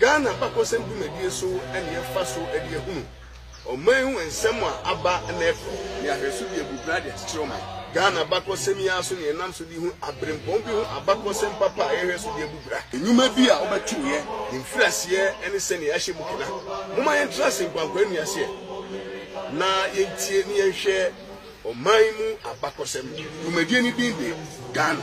Ghana abakɔsɛm dwumadie so ne yɛfa so de ahunu ɔman ho nsɛm a aba na ɛkɔ ne ahwɛso de abu bra de akyekyere ɔman. Ghana abakɔsɛm yi ara so ne yɛnam so de hu aberempɔn bi ho abakɔsɛm papa a yɛhwɛ so de abu bra. Nnwuma bi a wobɛto yɛ mfiriaseɛ ne sɛdeɛ yɛahyɛ mu kena. Momma yɛntra ase nkwankwa nni aseɛ na yɛntie ne yɛnhwɛ ɔman mu abakɔsɛm. Dwumadie no din de Ghana.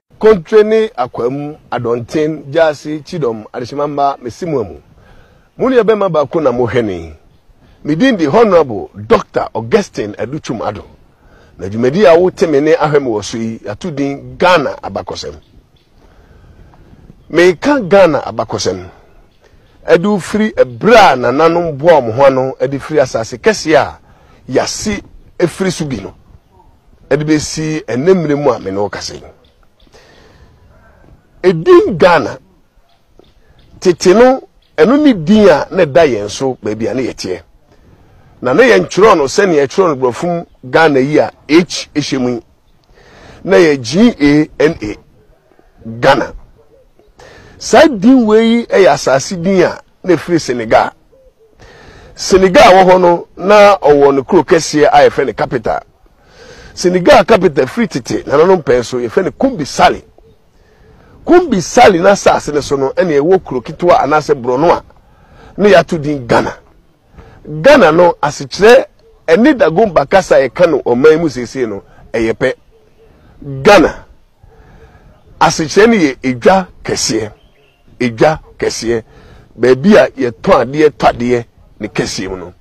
Kontre ne Akwaamu, Adɔnten, Gyaase, Kyidɔm, Adehyema Mma, Mesimuamu. Mo nua bɛma baako na mo hwɛne. Me din de Honourable Doctor Augustine Adu Twum Addo. Na dwumadi a wo te me ne ahwɛ me wɔ so yi yato din Ghana Abakɔsɛm. Me ka Ghana Abakɔsɛm de firi bere a nananom boaa wɔn ho ano de firi asase kɛseɛ a yɛase firi so bi no de bɛsi ɛnnɛ mmerɛ mu a me ne wo kasa yi. Edin Ghana, tete no ɛno ne din a na ɛda yɛn so baabi a na yɛteɛ, na na yɛntwerɛ no sɛnea yɛtwerɛ no borɔfo mu Ghana yi a H hyɛ mu yi. na yɛ G-A-N-A, Ghana. Saa din wei yi yɛ asase din a na ɛfiri Senegal. Senegal a ɛwɔ hɔ no, na ɔwɔ ne kuro kɛseɛ a yɛfrɛ no capital. Senegal capital firi tete nananom pɛn so yɛfrɛ no Kumbi Sali. Kumbi Sali n'asase no so no ɛna ɛwɔ kuro ketewa anaasɛ borɔno a na yɛato din Ghana. Ghana no asekyerɛ ɛne Dagomba kasa a yɛka no ɔman mu seesei no ɛyɛ pɛ. Ghana asekyerɛ no yɛ edwa kɛseɛ, edwa kɛseɛ, baabi a yɛtɔn adeɛ tɔ adeɛ ne kɛseɛ mu no.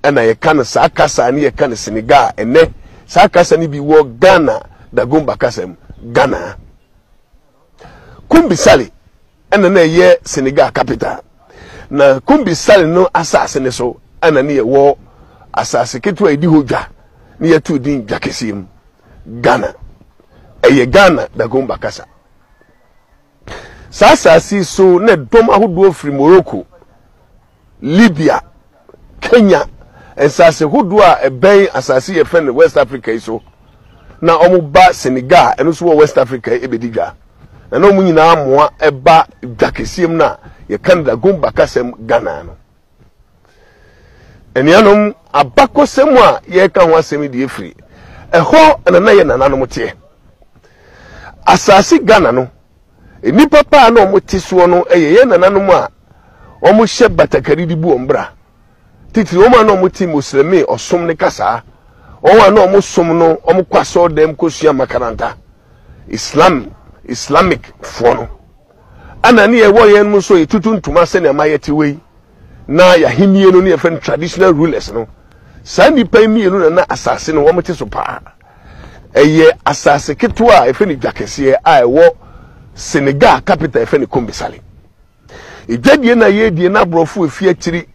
Ɛna yɛka no saa kasa ne yɛka no Senegal a ɛnɛ saa kasa no bi wɔ Ghana Dagomba kasa mu, Ghana. Kumbisale. Ɛna na ɛyɛ Senegal capital. Na Kumbi Sali no asase no so ɛna ne yɛ wɔ asase ketewa a yɛdi hɔ dwa ne yɛ too din Dwa Kɛseɛ mu, Ghana. Ɛyɛ Ghana Dagomba kasa. Saa asase yi so na ɛdɔm ahodoɔ firi Morocco Libya, Kenya, nsase hodoɔ a ɛbɛn asase yi yɛfrɛ no West Africa yi so, na wɔba Senegal a ɛno nso wɔ West Africa yi bɛdi dwa, na na wɔn nyinaa mmoa ba dwa kɛseɛ mu no a yɛka no Dagom Bakasɛm Ghana no. Anuanom, abakɔsɛm a yɛreka ho asɛm yi deɛ firi ɛhɔ na na yɛ nananom teɛ. Asase Ghana no, Nnipa pa a na wɔte soɔ no yɛ yɛn nananom a wɔhyɛ batakari de bu wɔn bra, titiri wɔn a na wɔte Moslɛmi ɔsom ne kasaa, wɔn a na wɔsom no, wɔkɔ asɔɔdam kɔsua makaranta, Islam, Islamic, foɔ no. Ɛna ne yɛwɔ yɛn nso yɛtutu ntoma sɛnea ma yɛte wei, na yɛahennie no ne yɛfrɛ no traditional rulers no. Saa nnipa yi mmienu na na asase no wɔte so paa. Ɛyɛ asase ketewa a wɔfrɛ no Dwa Kɛseɛ a ɛwɔ Senegal a capital a wɔfrɛ no Kombesale. Dwadie no a yɛredie no aborɔfo a ɛfiri akyiri,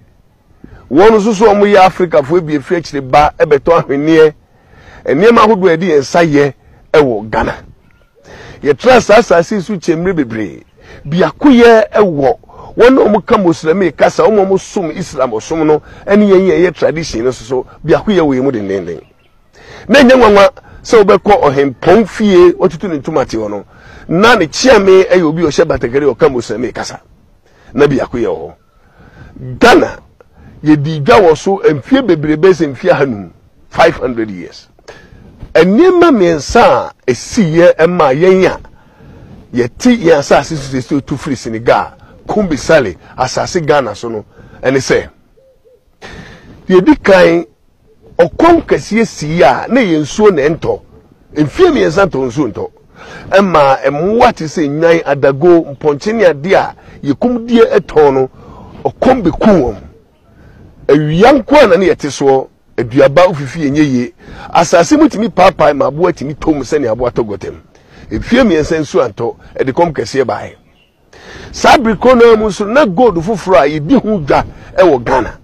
wɔn nso so wɔyɛ Afrikafoɔ bi a ɛfiri akyiri ba bɛtɔ ahweneɛ, nneɛma ahodoɔ a yɛde yɛn nsa yɛ wɔ Ghana. Yɛtraa saa asase yi so kyɛɛ mmerɛ bebree. Biakoyɛ wɔ wɔn a wɔka Moslɛmi kasa, wɔn a wɔsom Islam ɔsom no ne yɛn yɛn yɛ tradition no nso so, biakoyɛ wɔ yɛn mu dennenden. Na ɛnyɛ nwanwa sɛ wobɛkɔ ɔhempɔn fie watutu ne ntoma te hɔ no. Na ne kyeame yɛ obi a ɔhyɛ batakari a ɔka Muslimee kasa. Na biako yɛ wɔ hɔ. Ghana, yɛdii dwa wɔ so mfeɛ bebree bɛyɛ sɛ mfeɛ ahanum, 500 years. Nneɛma mmiɛnsa a ɛsiiɛ maa yɛn a yɛte yɛn asase so sɛsi otu firi Senegal, Kumbi Sale, asase Ghana so no ne sɛ, Deɛ ɛdi kan, ɔkɔm kɛseɛ sii a na ɛyɛ nsuo na ɛntɔ. Mfeɛ mmiɛnsa ntɔɔ nsuo ntɔ. Ɛmaa mmoa te sɛ nnwan, adago, mpɔnkye ne adeɛ a yɛkum die tɔn no, ɔkɔm bɛkuu wɔn. Awia nko ara na na yɛte soɔ. Aduaba ofifie nyɛ yie. Asase mu tumi paapae ma aboa tumi tɔ mu sɛdeɛ aboa tɔ gɔta mu. Mfeɛ mmiɛnsa nsuo antɔ. Ɛde kɔm kɛseɛ baeɛ. Saa bere koro no ara mu nso, na gold foforo a yedi ho dwa wɔ Ghana.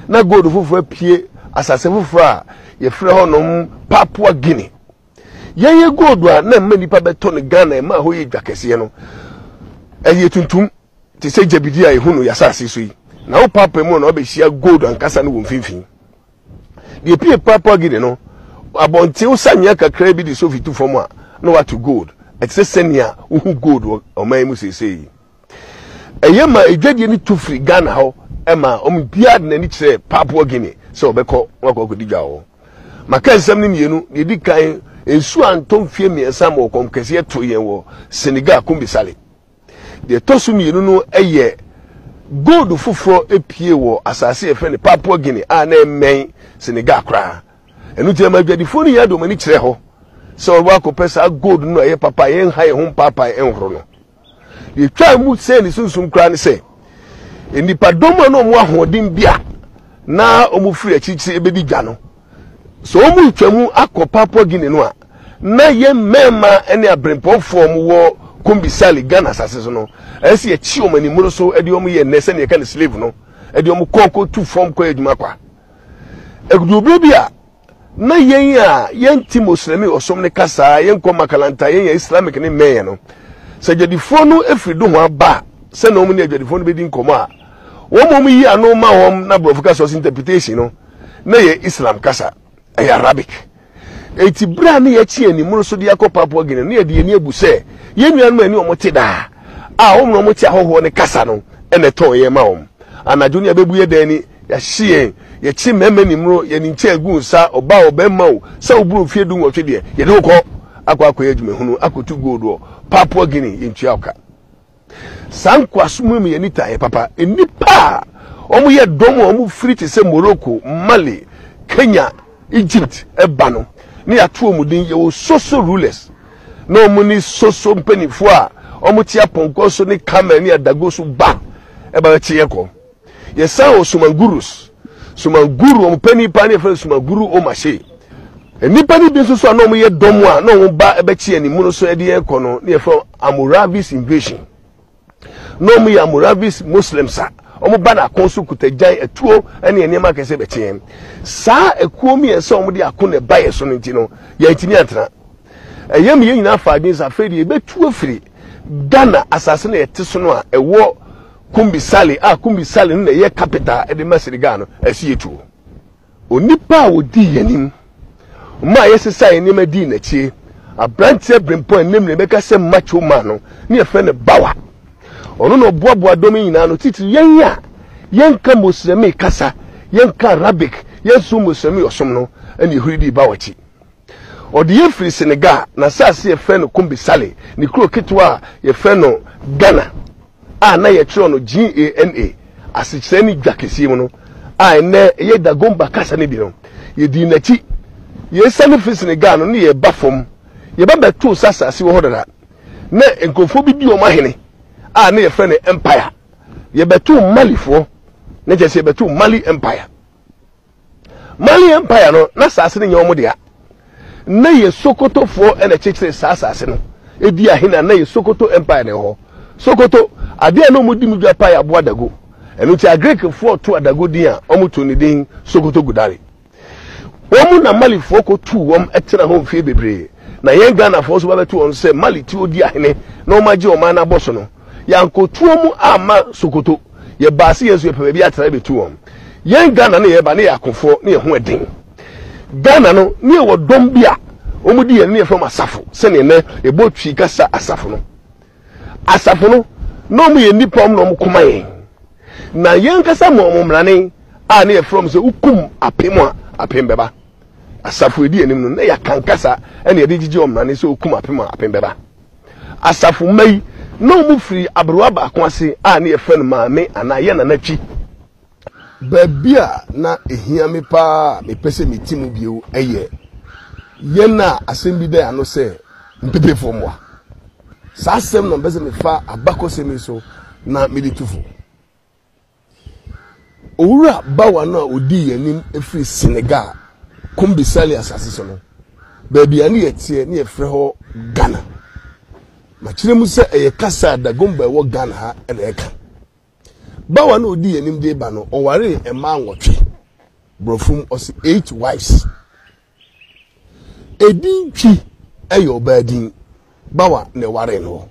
Ná gold foforo apue asase foforo a wɔfrɛ hɔnom Papua Guinea. Yɛyɛ gold a na ɛma nnipa bɛtɔ no Ghana, ɛmaa hɔ yɛ dwa kɛseɛ no, ɛyɛ tuntum te sɛ gyabidi a yɛhu no yɛn asase so yi. Na wo paapaa mu no na wabɛhyia gold ankasa no wɔ mfimfini. Deɛ ɛpue Papua Guinea no, abɔnten wosanyea kakraa bi de sofi tu fam a, na wɔato gold. Ɛte sɛ sɛnea wohu gold wɔ ɔman yi mu seesei yi. Ɛyɛ ma adwadie no tu firi Ghana hɔ ma wɔn biara de n'ani kyerɛ Papua Guinea sɛ wɔbɛkɔ na wɔakɔ akɔdi dwa wɔ hɔ. Maka nsɛm no mmienu. Deɛ ɛdi kan, nsuo antɔ mfeɛ mmiɛnsa ma ɔkɔm kɛseɛ too yɛn wɔ Senegal, Kumbi Sale. Deɛ ɛtɔ so mmienu no yɛ gold foforɔ pue wɔ asase a yɛfrɛ no Papua Guinea a na ɛmmɛn Senegal koraa. Ɛno nti ɛma adwadifoɔ no hia de wɔn ani kyerɛ hɔ sɛ wɔbɛba akɔpɛ saa gold no a ɛyɛ papa a yɛnha yɛn ho mpaapae nhoro no. Deɛ ɛtwaa mu sɛee ne sunsum koraa ne sɛ, nnipadɔm a na wɔn ahoɔden bi a na wɔfiri akyirikyiri rebɛdi dwa no, Sɛ wɔretwa mu akɔ Papua Guinea no a, na yɛn mmarima ne abirɛmpɔnfoɔ a wɔwɔ Kombi Sale, Ghana asase so no, ɛsɛ sɛ yɛkye wɔn animoroso de wɔn yɛ nnɛ sɛdeɛ yɛka no slave no, de wɔn kɔ kɔtu fam kɔyɛ adwuma kwa. Ɛduruu berɛ bi a, na yɛn a yɛnte Moslɛmi ɔsom no kasa, yɛnkɔ makalanta, yɛnyɛ Islamic ne mmɛnyɛ no, sɛ adwadifoɔ no firi dohoa ba a, sɛdeɛ wɔne adwadifoɔ no bɛdi nkɔmmɔ a, Wɔn mmom yi ano ma wɔn na borɔfo kasa ɔsɛ interpretation no na yɛ Islam kasa, ɛyɛ Arabic. Enti bere a na yɛakyi yɛn anim no so de akɔ Papua Guinea no yɛde yɛn ani abu sɛ yɛn nuanom a ɛne wɔn te daa a wɔn na wɔte ahɔhoɔ no kasa no na ɛtɔn yɛn ma wɔn. Anadwo no yɛabɛbu yɛn dan ani, yɛahye yɛn, yɛkye mmarima anim no, yɛn nkyɛn agu nsa, ɔbaa o, barima o, sɛ woboro mfeɛ du nwɔtwe deɛ, yɛde wo kɔ akɔ akɔyɛ adwumahunu, akɔtu gold wɔ Papua Guinea, yɛntua wo ka. Saa nkoasom yi ma yɛn nitaeɛ papa. Nnipa a wɔyɛ dɔm a wɔfiri te sɛ Morocco, Mali, Kenya, Egypt ba no, na yɛato wɔn din. Yɛwɔ Soso rulers, na wɔn ne Soso mpanimfoɔ a wɔte apɔnkɔ so ne camel ne adago so ba ba bɛkye yɛn kɔ. yɛsan wɔ sumangurus sumanguru wɔn pɛ nipa ne yɛfrɛ no sumanguru omashe nnipa no bi nso so a na wɔn yɛ dɔm a na wɔn ba bɛkye yɛn mu no so de yɛn kɔ no ne yɛfrɛ amoravis invasion na wɔn yɛ amoravis muslims a wɔn ba na ako so kuta gyan atuo ne nneɛma akɛse bɛkye yɛn saa ekuo mmiɛnsa wɔn de ako na ɛba yɛn so no nti no yɛn ntumi atena ɛyɛ mu yɛn nyinaa fa adwene sɛ afei deɛ yɛbɛtu afiri ghana asase na yɛte so no a ɛwɔ Kumbi Sale a Kumbi Sale no na ɛyɛ capital de ma Senegal no asiyɛ tuo. Onipa a ɔdii yɛn anim maa yɛsesaa yɛn nneɛma dii n'akyi, aberanteɛ berempɔn a nnɛ mmerɛ bɛka sɛ macho man no ne yɛfrɛ no Bawa. Ɔno na ɔboaboa dɔm yi nyinaa ano, titiri yɛn a yɛnka Moslɛmi kasa, yɛnka Arabic, yɛnsom Moslɛmi ɔsom no, ɛna yɛhuri dii Bawa akyi. Ɔdeyɛ firi Senegal, n'asase a yɛfrɛ no Kumbi Sale, ne kuro ketewa a yɛfrɛ no Ghana a na yɛtwerɛ no G-A-N-A, asekyerɛ ne Dwa Kɛseɛ mu no, a ɛnnɛ ɛyɛ Dagomba kasa no bi no. Yɛdii n'akyi. Yɛresiane firi Senegal no, na yɛreba fam. Yɛba bɛtoo sɛ asase wɔ hɔ dada. Na nkurɔfoɔ bi di wɔn ahene a na yɛfrɛ no Empire. Yɛbɛtoo Malifoɔ, na kyerɛ sɛ yɛbɛtoo Mali Empire. Mali Empire no, na asase no nyɛ wɔn dea. Na yɛ Sokotofoɔ na ɛkyekyere saa asase no. Ɛdi ahe na na yɛ Sokoto Empire na ɛwɔ hɔ. Sokoto, adeɛ a na wɔdi mu dwa paa yɛ aboa dago. Ɛno nti Agirikfoɔ too adago din a wɔtoo no din Sokoto Gudari. Wɔn na Malifoɔ kɔtuu wɔn tenaa hɔ mfeɛ bebree. Na yɛn Ghanafoɔ nso ba bɛto wɔn so sɛ Mali ti ɔdi ahene na wɔagye wɔn anan abɔ so no, yɛankɔtu wɔn amma Sokoto. yɛbaa se yɛn nso yɛpɛ baabi atena yɛbɛtu wɔn. Yɛn Ghana ne yɛba ne yɛ akofoɔ ne yɛ ho ɛden. Ghana no ne yɛ wɔ dɔm bi a wɔn di yɛn ne yɛfrɛ wɔn asafo sɛdeɛ nɛ yɛbɔ twi kasa asafo no. Asafo no na wɔn yɛ nipa wɔn na wɔn koma yɛn. Na yɛn kasa ma wɔn mmerane a ne yɛfrɛ wɔn sɛ wokum apem a apem bɛba. Asafo ɛdi anim no na yɛaka nkasa ɛne yɛde gyegye wɔn mmerane sɛ wokum apem a apem bɛba. Asafo mma yi, na wɔfiri aberewa baako ase a na yɛfrɛ no Maame anaa Yɛn Nana Kyi. Baabi a na ɛhia me pa ara a mepɛ sɛ mete mu bio yɛ yɛn a asɛm bi da yɛn ano sɛ Mpepefoɔ mmoa. Saa asɛm no na mepɛ sɛ mefa abakɔsɛm yi so na mede tu fo. Owura bawa no a ɔdii yɛn anim firi Senegal, Kombi Sali asase so no, baabi a na yɛteɛ na yɛfrɛ hɔ Ghana. Makyerɛ mu sɛ ɛyɛ kasa a Dagomba a ɛwɔ Ghana ha na ɛka. Bawa no a ɔdii yɛn anim de ba no, ɔwaree mmaa nwɔtwe, borɔfo mu ɔse eight wives. Edin Twi yɛ ɔbaa din, Bawa na ɛwaree no.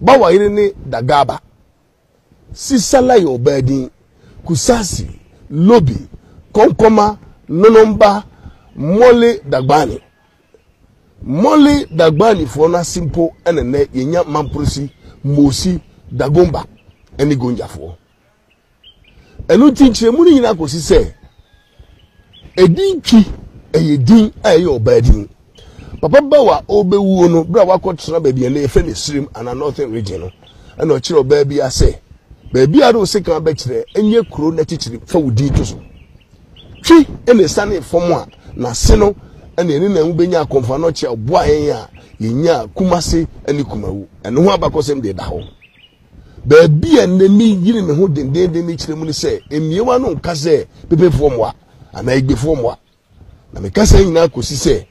Bawa yere ne Dagaba. Sisala yɛ ɔbaa din. Kusasi, Lobi, Kɔnkɔma, Nonomba, Mole Dagbani. Mole Dagbanifoɔ no ase mpo na nnɛ yɛnya Mamporosi, Mosi, Dagomba ne Gonjafoɔ. Ɛno nti nkyerɛmu no nyinaa kɔsi sɛ Edin Twi yɛ din a ɛyɛ ɔbaa din. Papa Bawo a ɔrebɛwuo no, berɛ a wakɔtena baabi a na yɛfrɛ no Asirim anaa Northern Region no, ɛna ɔkyerɛ ɔbaa bi a sɛ, baabi a wode sekan bɛkyerɛ nyɛ kuro no akyikyiri, fa wo din to so. Twi na ɛsianee fam a n'ase no na yɛne Nanwu bɛnya akɔmfaa no ɔkyea ɔboaa yɛn a yɛnyaa Kumase ne Kumawu. Ɛno ho abakɔsɛm deɛ ɛda hɔ. Baabi a nnɛ meyere me ho dendenden no kyerɛ mu ne sɛ mmiewa no nka sɛ pepefoɔ mmoa anaa egbefoɔ mmoa. Na meka saa nyinaa kɔsi sɛ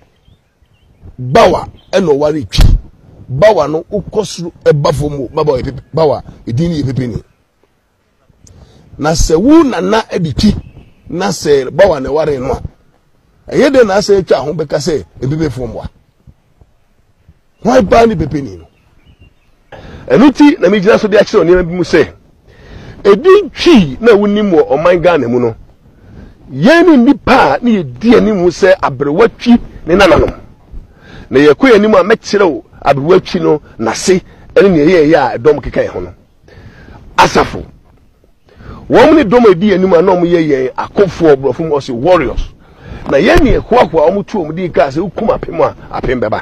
bawa ɛna ɔware twi. Bawa no wokɔ soro ɛba fam o, bawa yɛ pepe, bawa edin no yɛ pepe ni. Na sɛ wo nana de twi na sɛ bawa na ɛware no a, ɛyɛ dɛn na asɛ atwa ho bɛka sɛ mpepefoɔ mmoa? Hwan paa ne bɛbɛni no? Ɛno nti na megyina so de akyerɛw nneɛma bi mu sɛ, Edin twi na wonim wɔ ɔman Ghana mu no, yɛn ne nnipa a ne yɛdi anim sɛ aberewa twi ne nananom. Na yɛkɔ yɛn anim a mɛkyerɛw aberewa twi no n'ase ne nea ɛyɛeɛ a ɛdɔm keka yɛn ho no. asafo. Wɔn ne dɔm a edi anim a na wɔyɛ yɛn akofo wɔ borɔfo mu ɔse warriors. Na yɛn ne ɛhoahoa wɔn tu wɔn din kaa sɛ wokum apem a apem bɛba.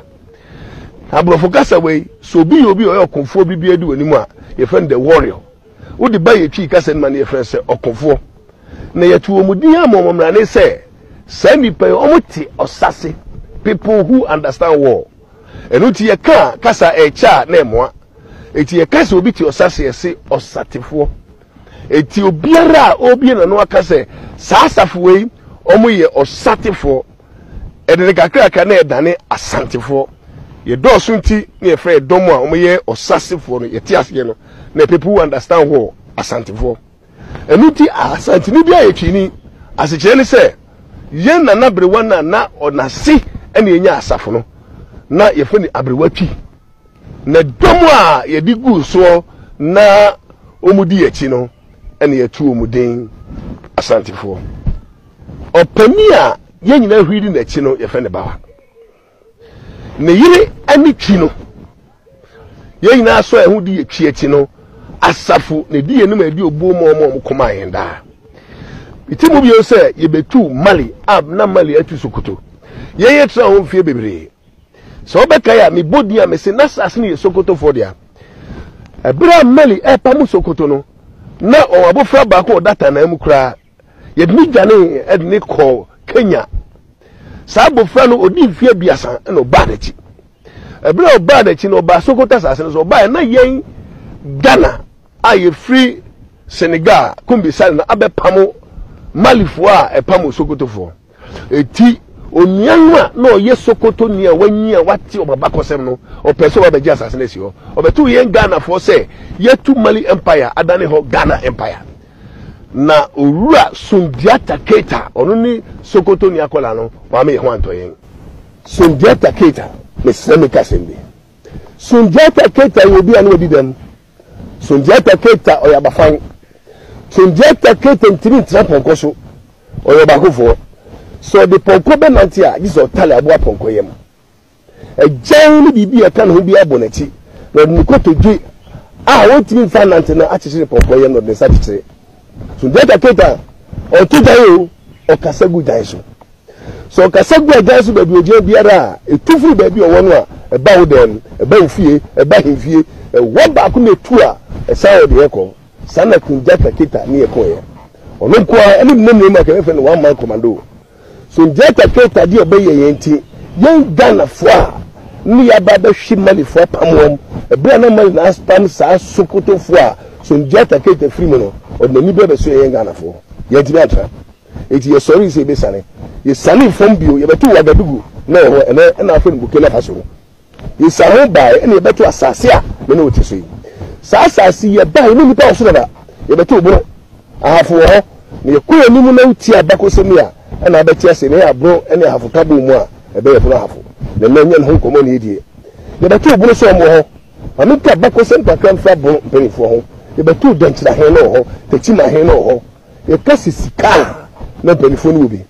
Na borɔfo kasa wei sɛ obi yɛ obi a ɔyɛ ɔkofoɔ bi biara di wɔn anim a yɛfrɛ no the warrior. Wode ba yɛtwi kasa no ma no yɛfrɛ no sɛ ɔkofoɔ. Na yɛto wɔn din ama wɔn mmara ne sɛ saa nnipa yi wɔn te ɔsa se people who understand war. Ɛno nti yɛka kasa ɛkyɛ a na ɛmoa. Enti yɛka sɛ obi te ɔsa se yɛse ɔsatefoɔ. Enti obiara a ɔbie n'ano aka sɛ saa asafo wei wɔyɛ ɔsatefoɔ, ɛde ne kakraka na yɛdane asantefoɔ. Yɛdɔɔso nti na yɛfrɛ ɛdɔm a wɔyɛ ɔsasefoɔ no yɛte aseɛ no na people who understand war asantefoɔ. Ɛno nti asanteni biara yɛ Twini. Asekyerɛ ne sɛ yɛn Nana Aberewa no a na ɔnase na yɛnya asafo no na yɛfrɛ no Aberewa Twi. Na dɔm a yɛde guu soɔ na wɔdi yɛn akyi no, na yɛatu wɔn din, Asantefoɔ. Ɔpanin a yɛn nyinaa huri di n'akyi no, yɛfrɛ no Bawa. Ne yere ne Twi no, yɛn nyinaa sɔ yɛn ho di yɛ Twi akyi no, Asafo na ɛdi yɛn anim a ɛdi obuo ma wɔn a wɔn koma yɛn daa. Mete mu bio sɛ yɛbɛtu Mali a na Mali atu Sokoto. Yɛn yɛtena hɔ mfeɛ bebree. Sɛ wobɛkae a, mebɔ din a mese na asase no yɛ Sokotofoɔ dea. Ɛberɛ a Mali ɛrepamo Sokoto no, na ɔwɔ abofra baako ɔda tanaa mu koraa. Yɛde ne dwanee de ne kɔɔ Kenya. Saa abofra no, ɔdii mfeɛ aduasa na ɔbaa n'akyi. Ɛberɛ a ɔbaa n'akyi no, ɔbaa Sokoto asase no so. Ɔbaeɛ na yɛn Ghana a yɛfiri Senegal, Kumbi Sali no abɛpamo Malifoɔ a ɛpamo Sokotofoɔ. Enti, onua no a na ɔyɛ Sokotoni a wanyin a wate wɔn abakɔsɛm no, ɔpɛe sɛ ɔbɛgye asase no asi hɔ. Ɔbɛtoo yɛn Ghanafoɔ sɛ yɛatu Mali Empire adane hɔ Ghana Empire. Na Owura Sundiata Keita, ɔno ne Sokotoni akwadaa no, wama yɛn ho antɔ yɛn. Sundiata Keita, mesrɛ menka asɛm bi. Sundiata Keita yɛ obi a na wadi dɛm Sundiata Keita ɔyɛ abafan. Sundiata Keita ntumi ntra pɔnkɔ so, ɔyɛ ɔbaakofoɔ. Sɛ ɔde pɔnkɔ bɛnante a, gye sɛ ɔtare aboa pɔnkɔ yam. Agyan ne biribi a ɛka ne ho biara bɔ n'akyi, na ɔde ne kotodwe a ɔntumi mfa nnante no akyekyere pɔnkɔ yam na ɔde ne nsa kyekyere. Sundiata Keita, ɔto gyan o, ɔkasa gu gyan so. Sɛ ɔkasa gu Agya no so baabi a ogyina biara a, etu firi baabi a ɔwɔ no a, ɛba wo dan mu, ɛba wo fie, ɛba ahemfie. Ɛhɔ baako na etu a, ɛsan wɔ deɛ ɛkɔ. Saa na Kunja Kaketa ne yɛ kɔeɛ. Ɔno nko ara ne Bena Nuema ka yɛfrɛ no One Man Commando. Sundiata Keita deɛ ɔbɛyɛ yɛn nti, yɛn Ghanafoɔ a na yɛaba abɛhwe Malifoɔ apam wɔn, ɛberɛ a na Mali na apam saa Sokotofoɔ a Sundiata Keita firi mu no, ɔde n'ani berɛ bɛsoɛɛ yɛn Ghanafoɔ. Yɛantumi antra. Enti yɛsɔree sɛ yɛbɛsiane. Yɛsianee fam bio, yɛbɛtoo Ouagadougou na ɛhɔ ɛnnɛ na wɔfrɛ no Burkina Faso no. Yɛsiane ho baeɛ ɛnna yɛbɛtoo asase a me ne wo te so yi. Saa asase yi, yɛbaeɛ, yɛne nnipa wɔ so dada, yɛbɛtoo borɔ, ahafo wɔ hɔ, na yɛkɔ yɛn anim na wotie abakɔsɛm yi a, ɛnna wobɛte ase na ɛyɛ aboro ne ahafo ka bɔɔ mu a, ɛbɛyɛ pono ahafo. Na ɛnnɛ yɛnyɛ ne ho nkɔmmɔ na yɛdie. Yɛbɛtoo borɔ sɛ wɔn wɔ hɔ. Ma menka abakɔsɛm kakra mfa borɔ mpanimfoɔ ho. Yɛbɛtoo Dɛnkyira he na ɔwɔ hɔ, Takyima he na ɔwɔ hɔ. Yɛka sɛ sika a, na mpanimfoɔ no wɔ bi.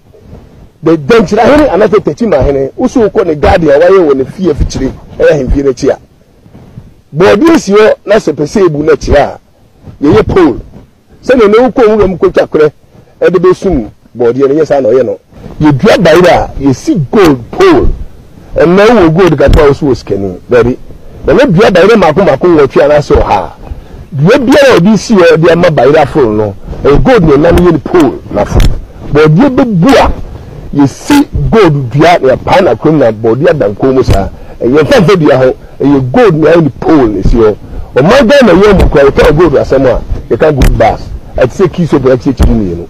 The Dankyirahene anaasɛ Takyimahene, wo so wokɔ ne garden a wayɛ wɔ ne fie afikyire, ɛyɛ ahemfie no akyi a, bɔɔdeɛ si hɔ na sɛ pɛ sɛ yɛbu no akyire a, yɛyɛ pole sɛdeɛ ɛnɛ wokɔ nwura mu kɔtwa korɛ de bɛsum bɔɔdeɛ no, ɛnyɛ saa na ɔyɛ no. Yɛdua bayerɛ a, yɛsi gold pole. Ɛnna wowɔ gold kakra a wo so wɔ sikani. Dabi, na ne dua bayerɛ mmaako mmaako nwɔtwe anaasɛ ɔha. Dua biara a ɔde si hɔ de ama bayerɛ aforo no, ɛyɛ gold na ɛnna no yɛ ne pole na aforo. Bɔɔdeɛ bɛbu a, yɛsi gold dua na yɛpae no akoram na bɔɔdeɛ ada nkɔn mu saa. Ɛnyɛ mfa mfa dua ho, ɛyɛ gold na ayɛ ne pole na ɛsi hɔ. Ɔman Ghana nyinaa mu koraa, yɛka gold asɛm a, yɛka gold bars. Ɛte sɛ kii soap na ɛte sɛ kyim mmienu.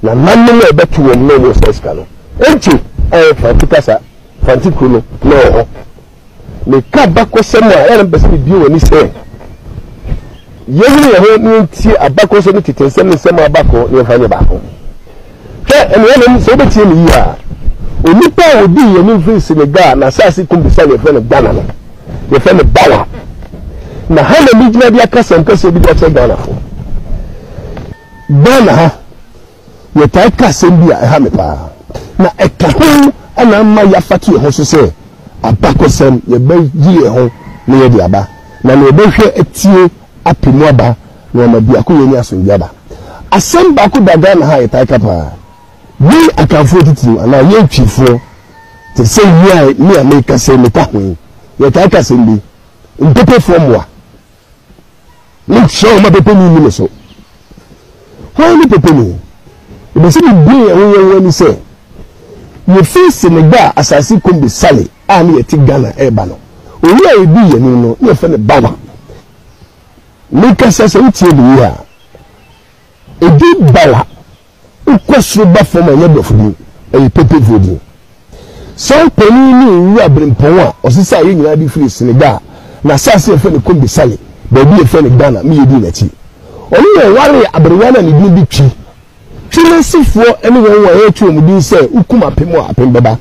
na nnanom a ɛbɛto wɔn na wɔn nsa sika no, egye a ɛyɛ Franti kasa, Franti kuro no na ɛwɔ hɔ. Meka abakɔsɛm a, ɛyɛ na mepɛ sɛ mebue wɔn ani sɛ yɛnyini yɛn ho na yɛntie abakɔsɛm ne tete nsɛm ne nsɛm a aba kɔ na yɛmfa nyɛ baako. Hwɛ, anuanom, sɛ wobɛtie me yie a, onipa a ɔdii yɛn anim firi Senegal na asase kum bisa no yɛfrɛ no Ghana no, yɛfrɛ no Bawa. Na ha na megyina de aka sɛm kɛseɛ bi de akyerɛ Ghanafo. Ghana ha, yɛtaa ka asɛm bi a ɛha me paa, na ɛka ho na ama yɛafata yɛn ho so sɛ, Abakɔsɛm, yɛbɛyere yɛn ho na yɛde aba, na nea ɔbɛhwɛ atie apɛ mu aba, na wama biakoyɛ ne asomdwoe aba. Asɛm baako da Ghana ha a yɛtaa ka paa, yɛn Akanfoɔ atitiriw anaa yɛn Twifoɔ, te sɛ nea me a merekasa yi meka ho yi, yɛtaa ka asɛm bi, Mpepefoɔ mmoa. Monkyerɛ wɔn ma pɛpɛmu nni mo so. Hwan ne pɛpɛmu? Ɛbɛsɛ sɛ mibue yɛn ho yɛn ho ani sɛ, yefi Senegal a asase kombe sale a na yɛte Ghana reba no, owu a edii yɛn anim no, na yɛfrɛ no Bawa. Mekasa sɛ wotie no yiye a, edin Bawa Wokɔ soro ba fam a, ɛnyɛ Borɔfo din, ɛyɛ Pepefoɔ din. Saa panin ne Owura Brempɔn a ɔsesaa yɛn nyinaa de firii Senegal, n'asaase a yɛfrɛ no Kombe Sale, baabi a yɛfrɛ no Ghana, me yɛ dii n'akyi. Ɔno na ɔwaree aberewa no a ne din de Twi. Twi n'asefoɔ ne wɔn a yɛto wɔn din sɛ wokum apem a, apem bɛba.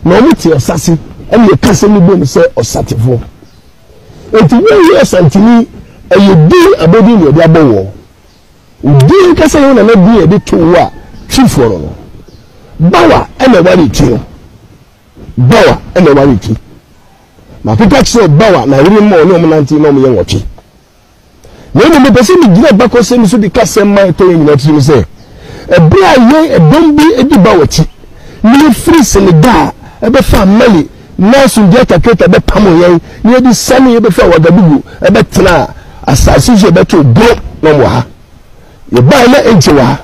Na wɔte ɔsase, ɛnna yɛka asɛm no bom sɛ ɔsatefoɔ. Enti woyɛ Ɔsanteni, ɛyɛ din, abodin na yɛde abɔ woɔ. Wo din ankasa yɛ wo nana din a yɛde too wo a Twifoɔ no no. Bawa na ɛware Twi no. Bawa na ɛware Twi. Makeka kyerɛɛ Bawa na yere ma ɔne wɔn nante na wɔyɛ nwɔtwe. Na mmom mepɛ sɛ megyina bakɔsɛm so de ka sɛm ma ɛtɔ yɛn nyinaa tirim sɛ ɛberɛ a yɛn ɛdɔm bi di Bawa akyi na yɛfiri Senegal bɛfaa Mali Nanso deɛ Takreta bɛpamoo yɛn na yɛde siane yɛbɛfiri Ouagadougou bɛtenaa asase so yɛbɛtoo bro na wɔn wɔ ha. Yɛbaeɛ na ɛnkyɛ wɔ ha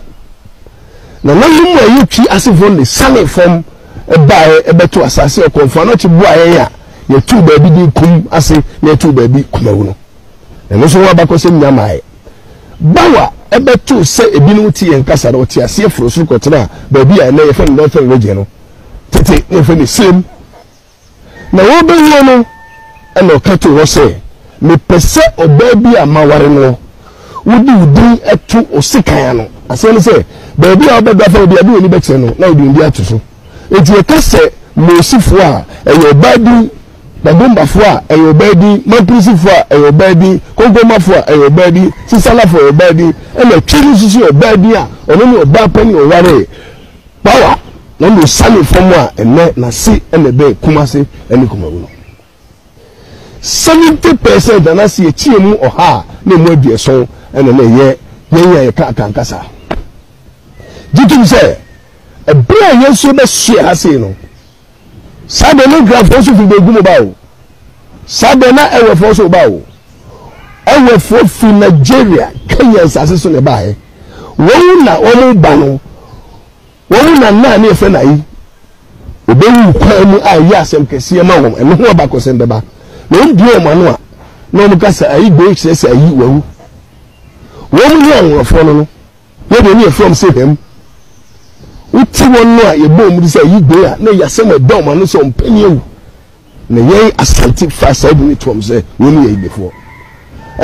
nananom mu a ɛyɛ Twi asefoɔ no de siane fam baeɛ bɛtoo asase a ɔkɔmfoɔ Anokye boaa yɛn a yɛtoo baabi din Kum ase na yɛtoo baabi Kumawu no. Ɛno nso ho abakɔsɛm nya maaɛ. Bawa bɛtoo sɛ ebinom te yɛn kasa no, wɔtee aseɛ foroo soro kɔtenaa baabi a ɛnnɛ yɛfrɛ no Northern Region no. tete na yɛfrɛ no Sirem. Na wɔrebɛwie no, ɛnna ɔka too hɔ sɛ, Mepɛ sɛ ɔbaa bi a maware noɔ, wode wo din to wo sekan ano. Aseɛ ne sɛ, baabi a wobɛda fa obi a, de w'ani bɛkyerɛ no, na wode wo din ato so. Enti yɛka sɛ Moosifoɔ a, ɛyɛ ɔbaa din, Badombafoɔ a, ɛyɛ ɔbaa din, Mampirisifoɔ a, ɛyɛ ɔbaa din, Konkonmafoɔ a, ɛyɛ ɔbaa din, Sisalafoɔ a, ɛyɛ ɔbaa din, ɛnna Twi no nso so yɛ ɔbaa din a ɔno ne ɔbaa panin a ɔwaree. Power na nea osiane fam a nnɛ n'ase na ɛbɛn Kumase ne Kumawu no. Seventy percent anaase yɛkyi emu ɔha a na emu aduɔson na na ɛyɛ yɛn a yɛka Akan kasa. Gye tom sɛ ɛberɛ a yɛn nso yɛbɛsoɛ ha sei no, Saa de no Granfoɔ nso firi Begu mu ba o. Saa de na Ewefoɔ nso ba o. Ewefoɔ firi Nigeria, Kenya nsase so na ɛbaeɛ. Wɔn na wɔn ba no, wɔn na nna ne yɛfrɛ no ayi. Wɔbɛwu kwan mu a ɛyɛ asɛm kɛseɛ ma wɔn. Ɛno ho abakɔsɛm bɛba. Na wɔn bue wɔn ano a, na wɔn ka sɛ ayi gbei kyerɛ sɛ ayi wawu. Wɔn ne anworofoɔ no no. Yɛ deɛ ne yɛfrɛ wɔn sɛ hwɛm. Wote wɔn no a yɛbɔ wɔn de sɛ ayi gben a na ɛyɛ asɛm a ɛda wɔn ano sɛ wɔn pɛ ne awu. Na yɛn Asante faa saa din no to wɔn sɛ wɔn ne yɛ Igbefoɔ.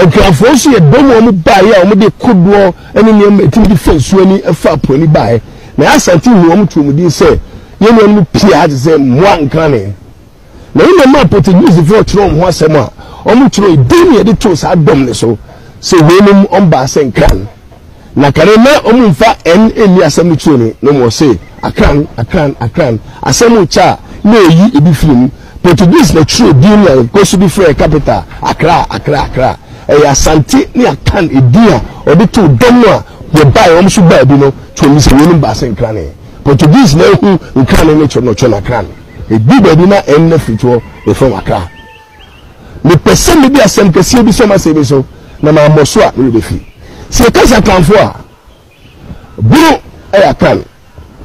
Nkrafoɔ nso yɛdɔm a wɔn baeɛ a wɔn de kodoɔ ne nneɛma a ɛtumi de fa nsuo ani fa apo ani baeɛ. Na yɛn Asante huu wɔn too wɔn din sɛ yɛn nuanom pii a te sɛ mmoa nkane. na mmom maa Portuguesefoɔ twerɛ wɔn ho asɛm a, wɔtwerɛɛ din na yɛde too saa dɔm no so sɛ weinom wɔbaa sɛ Nkran. Na kane na wɔmfa N nni asɛm no turo no, na wɔn se Akran, Akran, Akran. Asɛm rekyɛ a, na ɛreyi ebi firi mu. Portuguese na twerɛɛ din no a yɛkɔ so de frɛ yɛn capital, Accra, Accra, Accra. Ɛyɛ Asante ne Akan edin a wɔde too dɔm no a wɔbaeɛ, wɔn nso baa bi no, twerɛɛ mu sɛ weinom baa sɛ Nkrane. Portuguese na ahu Nkrane ne twerɛ no, wɔtwerɛ no Akran. Edu baabi na ɛnne firi toɔ refa w'akra. Mepɛ sɛ mede asɛm kɛseɛ bi sɔ m'asɛm yi so na mammɔ so a me werɛ bɛfi. Sɛ yɛka sɛ Akanfoɔ a, Bono yɛ Akan,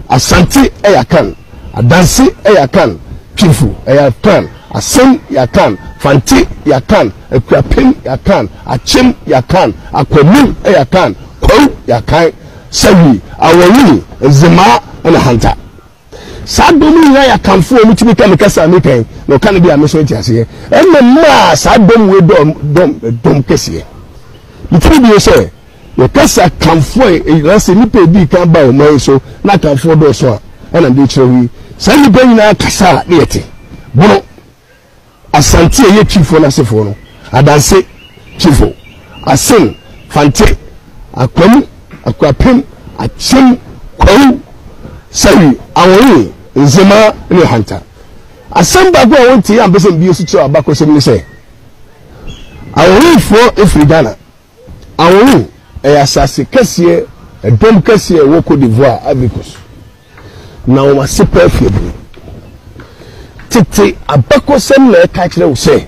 Asante yɛ Akan, Adanse yɛ Akan, Twifo yɛ Akan, Asen yɛ Akan, Fante yɛ Akan, Akuapem yɛ Akan, Akyem yɛ Akan, Akwamim yɛ Akan, Kwawu yɛ Akan, Sawie, Awɔnwini, Nzemaa na Hanta. Saa dɔm yi nyinaa yɛ akanfoɔ, wɔn tumi ka me kasa a mepɛ, na ɔka no bi a me nso nte aseɛ. Ɛna maa saa dɔm wei dɔm dɔm dɔm kɛseɛ. Metumi bio sɛ, yɛka sɛ akanfoɔ a ɛyina sɛ nnipa ɛdii kan ba ɔman yi so na akanfoɔ dɔɔso a, ɛna mede kyerɛ wo yi. Saa nnipa nyinaa kasa a ne yɛte, bono. Asante a ɛyɛ Twifoɔ no asefoɔ no, Adanse Twifo, Asen, Fante, Akwamu, Akuapem, Akyem, Kwawu, Sawi, Awonye, Nzema, ne Hanta. Asɛm baako a wɔntee ampɛ sɛ mbie so kyerɛw abakɔsɛm ne sɛ, Awonyefoɔ firi Ghana. Awowu yɛ asase kɛseɛ dɔm kɛseɛ a ɛwɔ Côte d'Ivoire, Ivory Coast, na wɔn ase paa fi aburo. Tete abakɔsɛm na ɛka kyerɛ wo sɛ,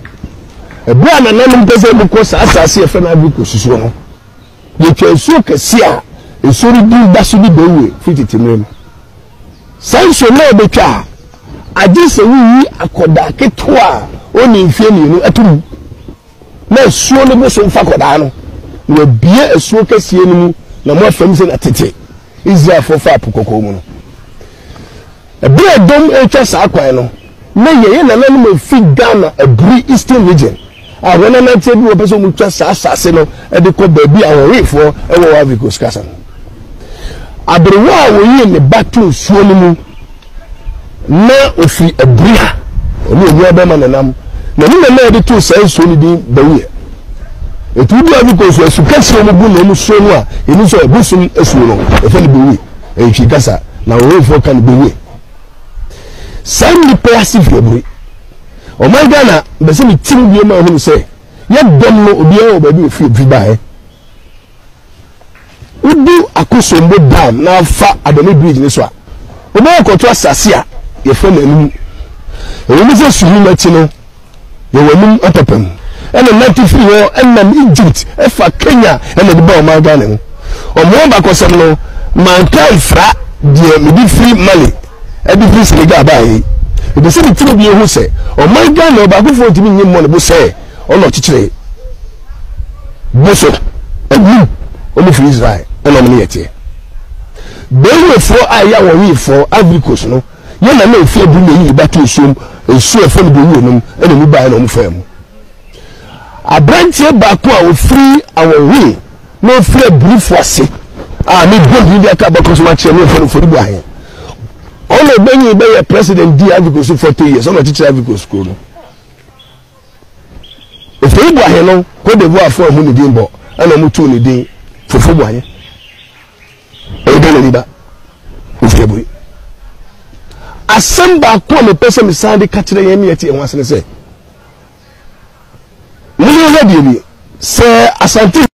ɛberɛ a nananom pɛ sɛ wɔkɔ saa asase a yɛfrɛ no Ivory Coast soɔ no, wɔtwa nsuo kɛseɛ a nsuo no din da so de Beoue firi tete mmerɛ mu. Saa nsuo no a wɔbɛtwa a, agye sɛ woyi akwadaa ketewa a ɔnni mfeɛ mmienu to mu. Na asuo no bo so mfa kɔdaa no, na wɔabue asuo kɛseɛ no mu, na moa fam sɛdeɛ tete Israelfoɔ faa Po Kɔkɔɔ mu no. Ɛberɛ a dɔm retwa saa kwan no, na yɛn nananom a wɔfiri Ghana Aburi Eastern Region a wɔnananteɛ bi wɔpɛ sɛ wɔtwa saa asase no de kɔ baabi a Ahohefoɔ wɔ wɔ Ivory Coast kasa no. Aberewa a ɔyii ne ba too nsuo no mu. na ɔfiri abura a ɔne owuo bɛma no nam na ne mama yɛde too saa nsuo no din bawuiɛ ɛti wodi a wokɔ nsuo asu kɛseɛ mu gu na ɔmu suo no a ɛni sɛ ɛbosom asuo no ɛfɛ no bawuiɛ ɛntwi kasa na ɔwɔfoɔ ka no bawuiɛ saa nnipa yɛ ase firi abure ɔman ghana bɛsɛ ne tim bie ma ahunu sɛ yɛdɔm no obiara wɔ baabi ofiri ofiri baeɛ Wodu Akosombo Dam na afa Adani Bridge no so a, wobɛkɔ akɔto asase a yɛfrɛ no Anum. Ɛwom sɛ Suhum akyi no, yɛwɔ Anum apapamu. Ɛna nante firi hɔ nam Egypt fa Kenya na ɛde ba ɔman Ghana mu. Ɔmo abakɔsɛm no, manka amfra deɛ mede firi Mali de firi Senegal baeɛ yi. Mepɛ sɛ mekyerɛ obiara hu sɛ ɔman Ghana ɔbaakofoɔ ntumi nyi mmɔ ne bo sɛ ɔna ɔkyekyeree. bu so anim wɔn firi Israel ɛna wɔn ne yɛ teɛ. Bɛnwɛfoɔ a ɛyɛ wɔn wefoɔ Ivory Coast no yɛ na ne mfeɛ du na ɛyi ne ba to nsuom nsuo ɛfɛ no bɛwuo nom ɛna mu baeɛ na wɔn faa mu. Aberanteɛ baako a ɔfiri awɔnwe na ɔfiri abirifo ase a ne bɔ bi aka abɛkɔ so akyerɛ ne mfɛn mfɛn bu ahe ɔna ɔbɛnyi bɛyɛ president di Ivory Coast forty years ɔna ɔkyekyere Ivory Coast kuro no. Efei Boahe no, Kodewuafo anhu ne din bɔ na wɔtoo ne din Fofo Boahe. Ɔyɛ Ghanani ba, ofi Aburi. Asɛm baako a mepɛ sɛ mesan de ka kyerɛ yɛn ne yɛte yɛn ho ase ne sɛ, monhwɛ deɛ nie, sɛ Asante